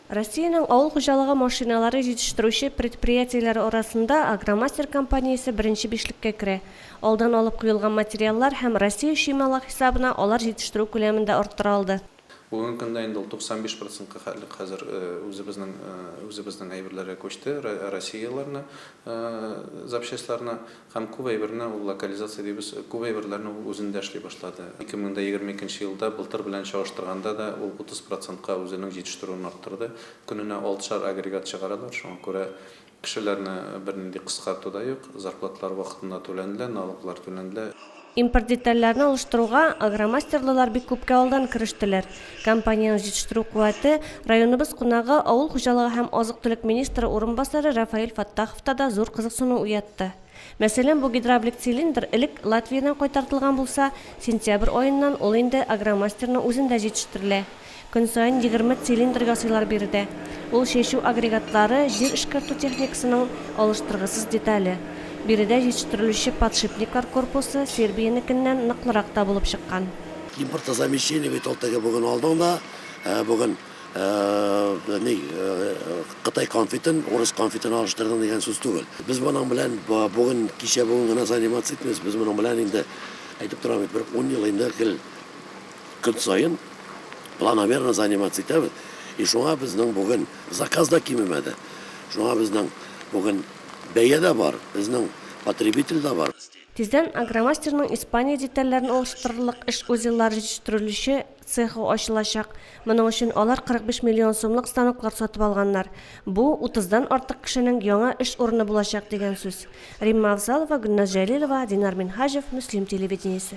Россиянең авыл хуҗалыгы машиналары җитештерүче предприятиеләре арасында Агромастер компаниясе беренче бишлеккә керә. Алдан алып куелган материаллар һәм Россия чыймалык хисабына алар җитештерү күләмен дә арттыра алды. Бүгенге көндә инде ул 95 процентка хәтлек хәзер үзебезнең үзебезнең әйберләргә күчте, россияләрне запчастьларны. Һәм күп әйберне ул локализация дибез, күп әйберләрне ул үзендә эшли башлады. Ике мең дә егерме икенче елда былтыр белән чагыштырганда да ул утыз процентка үзенең җитештерүен арттырды. Көненә алтышар агрегат чыгаралар, шуңа күрә кешеләрне бернинди кыскарту да юк, зарплаталар вакытында түләнелә, налоглар түләнелә. Импорт детальләрен алыштыруга агромастерлылар бик күпкә алдан керештеләр. Компаниянең җитештерү куәте, районыбыз кунагы, авыл хуҗалыгы һәм азык-төлек министры урынбасары Рафаэль Фаттаховта да зур кызыксыну уятты. Мәсәлән, бу гидравлик цилиндр элек Латвиядән кайтартылган булса, сентябрь аеннан ул инде Агромастерның үзендә җитештерелә. Көн саен егерме цилиндр ясыйлар биредә. Ул чәчү агрегатлары, җир эшкәртү техникасының алыштыргысыз детале. Биредә җитештерелүче подшипниклар корпусы Сербиянекеннән ныклырак та булып чыккан. Импортозамещение бит ул теге бүген алдың да, бүген ни, кытай конфетын урыс конфетына алыштырдың дигән сүз түгел. Без моның белән бүген, кичә-бүген генә заниматься итмибез, без моның белән инде, әйтеп торам бит, бер ун ел инде гел Көн саен планомерно заниматься итәбез, и шуңа безнең бүген заказ да кимемәде, шуңа безнең бүген бәя дә бар, безнең потребитель дә бар. Тиздән Агромастерның Испания детальләрен алыштырырлык эш узеллары җитештерелүче цехы ачылачак. Моның өчен алар 45 миллион сумлык станоклар сатып алганнар. Бу, утыздан артык кешенең яңа эш урыны булачак дигән сүз. Римма Авзалова, Гөлназ Җәлилова, Динар Минһаҗев, Мөслим телевидениесе.